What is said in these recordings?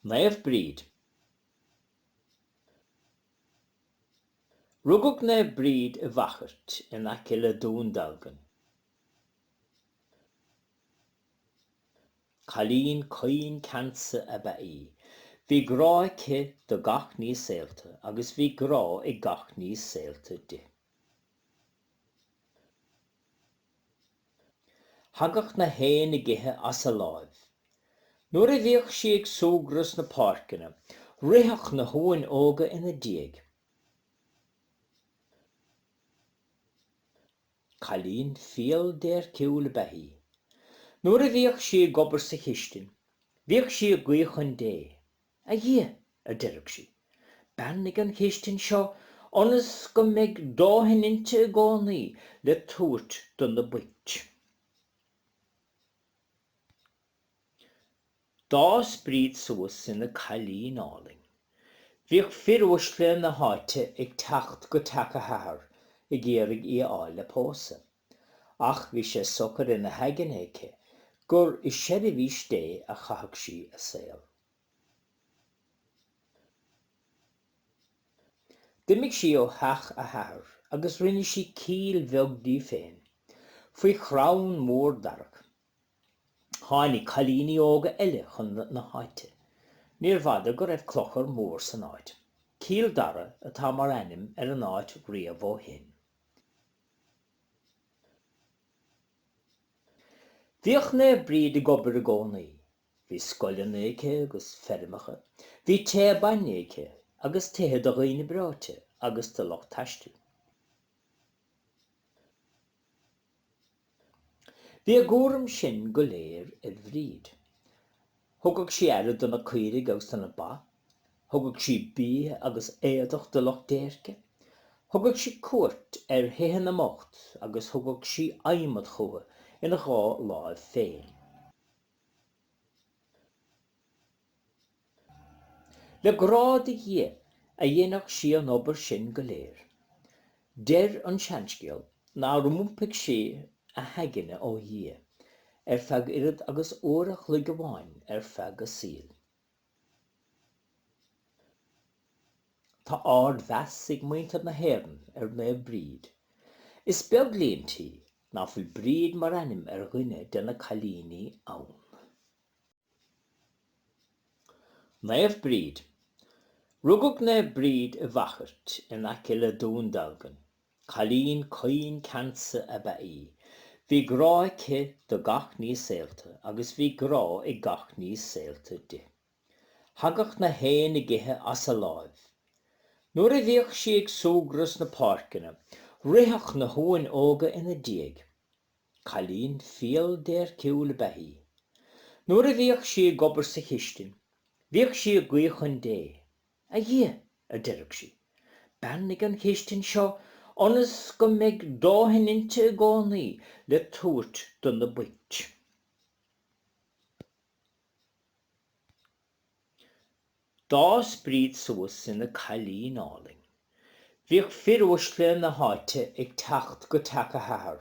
Naomh Bríd. Rugadh Naomh Bríd i bhFachairt in aice le Dún Dealgan. Cailín caoin ceansa ab ea í. Bhí grá aici do gach ní saolta agus bhí grá ag gach ní saolta di. Thagadh na héin ag ithe as a láimh. Nuair a bhíodh sí ag súgradh sna páirceanna, ritheadh na huain óga ina diaidh. Cailín fial déirciúil ab ea í. Nuair a bhíodh sí ag obair sa chistin, bhíodh sí ag guí chun Dé. A Dhia! a deireadh sí, beannaigh an chistin seo ionas go mbeidh dóthain inti i gcónaí le tabhairt do na boicht. D'fhás Bríd suas ina cailín álainn. Bhíodh fir uaisle na háite ag teacht go teach a hathar ag iarraidh í a fháil le pósadh. Ach bhí sé socair ina haigne aici gur i seirbhís Dé a chaithfeadh sí a saol. D'imigh sí ó theach a hathar agus rinne sí cill bheag di féin faoi chrann mór darach. Tháinig cailíní óga eile chun na háite. Níorbh fhada go raibh clochar mór san áit. Cill Dara atá mar ainm ar an áit riamh ó shin. Bhíodh Naomh Bríd ag obair i gcónaí. Bhí scoileanna aici agus feirmeacha. Bhí tigh bainne aici agus tithe do dhaoine breoite agus do lucht taistil. Bhí a gcúram sin go léir ar Bhríd. Thugadh sí aire do na caoirigh agus na ba, thugadh sí bia agus éadach do lucht déirce, thugadh sí cuairt ar thithe na mbocht agus thugadh sí adhmad chúthu ina dhá láimh féin. Le grá do Dhia a dhéanadh sí an obair sin go léir. Deir an seanscéal nár iompaigh sí a haigne ó Dhia ar feadh oiread agus uair a chloig amháin ar feadh a saoil. Tá ardmheas ag muintir na hÉireann ar Naomh Bríd. Is beag líon tí ná fuil Bríd mar ainm ar dhuine de na cailíní ann. Naomh Bríd. Rugadh Naomh Bríd i bhFachairt, in aice le Dún Dealgan. Cailín caoin ceansa ab ea í. Bhí grá aici do gach ní saolta agus bhí grá ag gach ní saolta di. Thagadh na héin ag ithe as a láimh. Nuair a bhíodh sí ag súgradh sna páirceanna, ritheadh na huain óga ina diaidh. Cailín fial déirciúil ab ea í. Nuair a bhíodh sí ag obair sa chistin, bhíodh sí ag guí chun Dé. A Dhia, a deireadh sí, beannaigh an chistin seo ionas go mbeidh dóthain inti i gcónaí le tabhairt do na boicht. D'fhás Bríd suas ina cailín álainn. Bhíodh fir uaisle na háite ag teacht go teach a hathar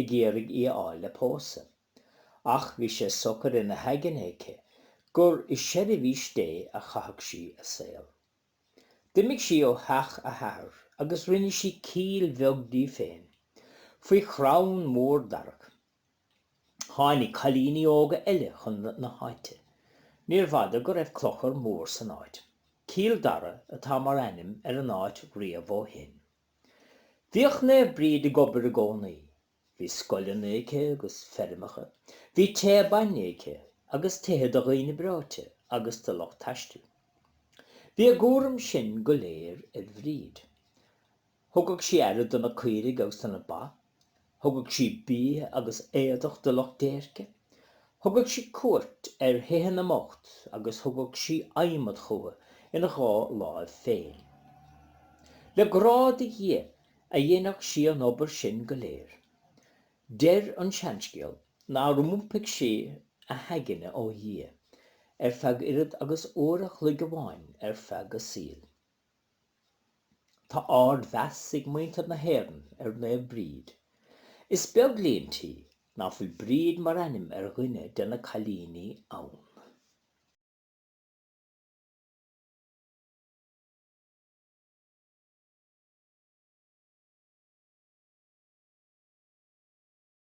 ag iarraidh í a fháil le pósadh. Ach bhí sé socair ina haigne aici gur i seirbhís Dé a chaithfeadh sí a saol. D'imigh sí ó theach a hathar agus rinne sí cill bheag di féin faoi chrann mór darach Tháinig cailíní óga eile chun na háite. Níorbh fhada go raibh clochar mór san áit. Cill Dara atá mar ainm ar an áit riamh ó shin. Bhíodh Naomh Bríd ag obair i gcónaí. Bhí scoileanna aici agus feirmeacha. Bhí teach bainne aici agus tithe do dhaoine breoite agus do lucht taistil. Bhí a gcúram sin go léir ar Bhríd. Thugadh sí aire do na caoirigh agus na ba, thugadh sí bia agus éadach do lucht déirce, thugadh sí cuairt ar thithe na mbocht agus thugadh sí adhmad chucu ina dhá láimh féin. Le grá do Dhia a dhéanadh sí an obair sin go léir. Deir an seanscéal nár iompaigh sí a haigne ó Dhia ar feadh oiread agus uair a chloig amháin ar feadh a saoil. Tá ardmheas ag muintir na hÉireann ar Naomh Bríd. Is beag líon tí ná fuil Bríd mar ainm ar dhuine de na cailíní ann.